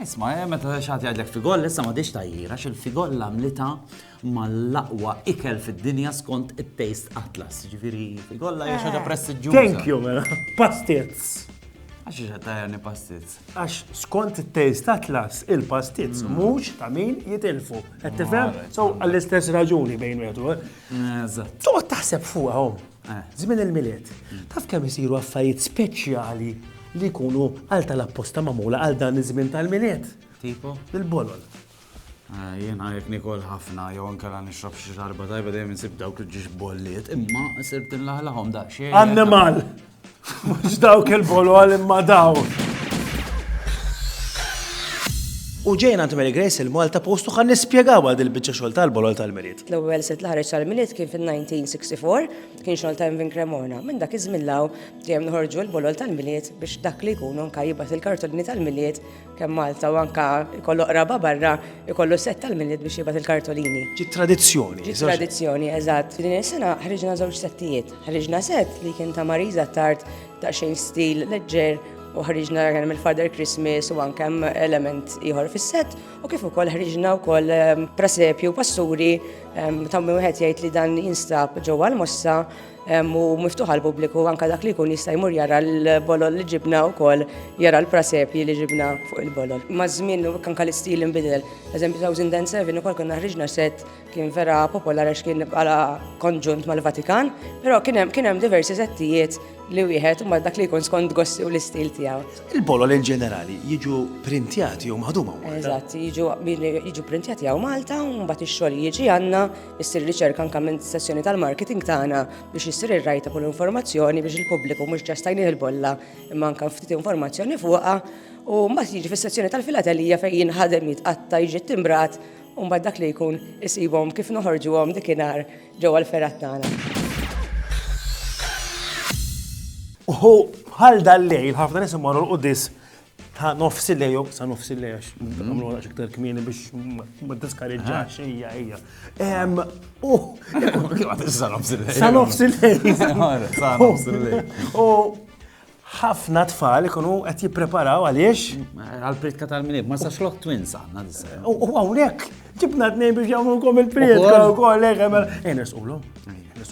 Isma', meta xi ħadd jgħidlek figolla, issa m'għadhiex tgħajjir għax il-figolla għamlitha mal-aqwa ikel fid-dinja skont it-Taste Atlas. Ġifieri figolla hija xi ħaġa eh. prestiġġjuża. Thank you, mela. Pastizz. Għax iġa tajani pastizz. Għax skont it-Taste Atlas, il-pastizz mm. mhux ta' min jitilfu. Qed tifhem? So għall-istess raġuni bejn wieħed u Eżatt. Toqgħod taħseb fuqha Żmien il-Milied. Taf kemm isiru affarijiet speċjali li jkunu għal tal-apposta magħmula għal dan iż-żmien tal-Milied? Tipo? Il-bolol. Eh, jien għalek nikol ħafna, jew nkella nixrob xi xarba tajba dejjem insib dawk il-ġiġ bolliet, imma sirt inlaħlaħhom daqsxejn. Annimal! Mhux dawk il-bolo għal imma dawk. U ġejna għand Mary Grace il-Malta postu għan nispjegaw għad il-bicċa xol tal-bolol tal-miliet. L-ewwel sitt l-ħareġ tal-miliet kien fin-1964, kien xol ta' Vin Cremona. Minn dak iż-żmien law dejjem nħorġu l-bolol tal-miliet biex dak li jkunu nkajjibat il-kartolini tal-miliet kemm Malta u anke jkollu qraba barra, jkollu sett tal-milied biex jibgħat il-kartolini. Ġi tradizzjoni. Ġi tradizzjoni, eżatt. F'din is-sena ħriġna żewġ settijiet. Ħriġna sett li kien ta' Marisa Tard ta' xejn stil leġġer u ħriġna kien hemm il-Father Christmas u anke hemm element ieħor fis-sett u kif ukoll ħriġna wkoll ehm, prasepju passuri ehm, ta' wieħed jgħid li dan jinstab ġewwa l-mossa u miftuħ għal pubbliku anka dak li jkun jista' jmur jara l-bolol li ġibna wkoll jara l-prasepji li ġibna fuq il-bolol. Maż-żmien anka l-istil inbidel. Eżempju 2007 ukoll konna ħriġna set kien vera popolar għax kien bħala konġunt mal-Vatikan, però kien hemm kien hemm diversi settijiet li wieħed ma dak li jkun skont gossi u l-istil tiegħu. Il-bolol in ġenerali jiġu printjati jew maħduma hawn Malta? Eżatt, jiġu jiġu printjati hawn Malta u mbagħad ix-xogħol jiġi għandna Issir riċerka anke minn sessjoni tal-marketing tagħna biex issir ir-rajta kull informazzjoni biex il-pubbliku mhux ġast tajnih il-bolla imma anke ftit informazzjoni fuqha u mbagħad jiġi fis-sessjoni tal-filatelija fejn jinħadem jitqatta' jiġi ttimbrat u mbagħad dak li jkun isibhom kif noħorġuhom dikinhar ġewwa l-fergħat tagħna. Uhu bħal dal-lejl ħafna nies imorru l-qudis ta' nofs il-lejl, jew sa' nofs il-lejl, għax għamlu għalax iktar kmieni biex ma diskareġġax, ejja, ejja. Em, u, Sa nofs il-lejl. sa' nofs il-lejl. Sa nofs il-lejl. U ħafna tfal ikunu qed jippreparaw għaliex. Għal-pritka tal-minib, ma sax loħ twins għanna disa. U u hawnhekk ġibna tnejn biex jagħmlukom il-priedka Ukoll. wkoll, ejja, mela. Ejja, nisqulu.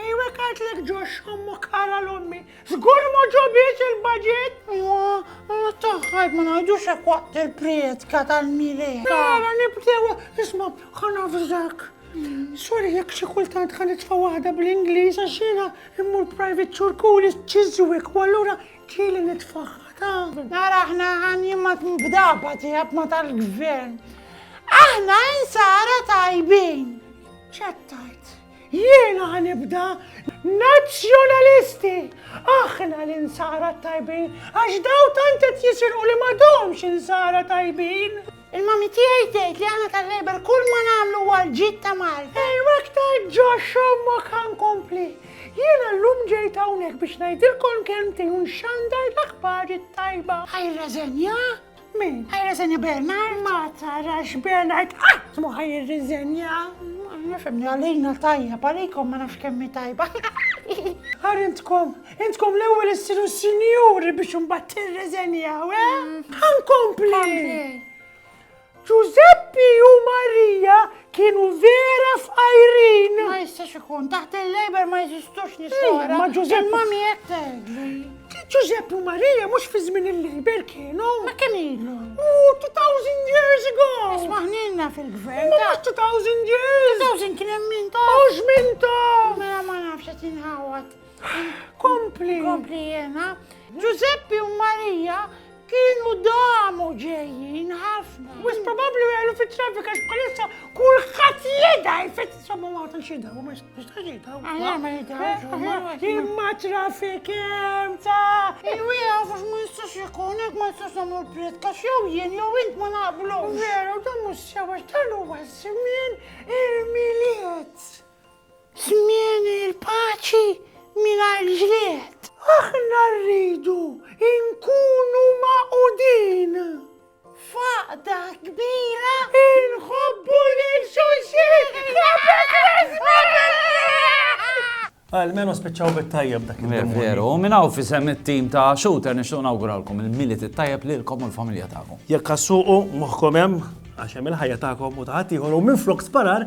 Ejwek għadlek ġox ommu kara l-ommi, zgur ma ġobiex il-budget. Ewa, għana taħħajt ma najdux hekk waqt il-prietka tal-mire. Għana nibdew, isma, għana fżak. Sorry, jek xi kultant għan itfa waħda bl-Inglis, għaxina immur private ċurkuli ċizwik, u allura ġili nitfaħħa ta. Nara ħna għan jimmat mbdaba tijab ma tal-gvern. Aħna insara tajbin. ċattajt. Jiena ħa nibda Nazzjonalisti! Aħna l-insara t-tajbin għax daw tant qed jisirqu li m'għadhomx insara tajbin! Il-mommy tiegħi tgħid li aħna tal-Labour kull ma nagħmlu huwa għall-ġid ta' Malta. Ejw aktar ġo x'ommok ħa nkompli. Jiena llum ġejt hawnhekk biex ngħidilkom kelmtejn u nxandar l-aħbar it-tajba. Ħa jirreżenja? Min? Ħajreżenja Bernard? Ma tarax Bernard qatt mu ħajirriżenja. Nifemni għalina tajja, parikom ma nafx kemmi tajba. Għar intkom, intkom l-ewel issiru sinjuri biex unbat tirreżenja, we? Eh? Mm. Għankompli! Giuseppe u Maria Kienu vera f'ajrin! Ma jistax ikun, taħt il-Labor ma jizistux nisora. Ma Ġużepp. Ma mi jek tegli. Ġużepp u Marija mux fi żmien il-Labor kienu. Ma kemm ilu? U 2000 years ago! Ismaħnilna fil-gvern. Ma 2000 years! 2000 kien hemm min ta' u żmien ta' mela ma nafx qed inħawad. Kompli. Kompli jena. Ġużeppi u Marija Kienu damu ġejjin ħafna. Wis probabbli għelu fit traffic għax bħalissa kulħadd jeda jfittisom u għatan xida u ma jistax jida. Għajja ma jida. Imma traffic hemm ta' il-wija għax ma jistax ikun hekk ma jistax nagħmlu l-priet kax jew jien jew int ma naqblu. Veru dan mhux sewa x'talu għaż-żmien il-miliet. Żmien il-paċi mingħajr ġlied. Aħna rridu nkunu magħqudin f'għaqda kbira. Inħobbu lil xulxin qabel l-isbaħ! Almenu spiċċaw bit-tajjeb dak il-jum. Veru, u minn hawn fisem it-tim ta' Shooter nixtieq nawguralkom il-Milit it-tajjeb lilkom u l-familja tagħkom. Jekk assuqu moħħkom hemm għax hemm il-ħajja tagħkom u ta' ħaddieħor u minflok sparar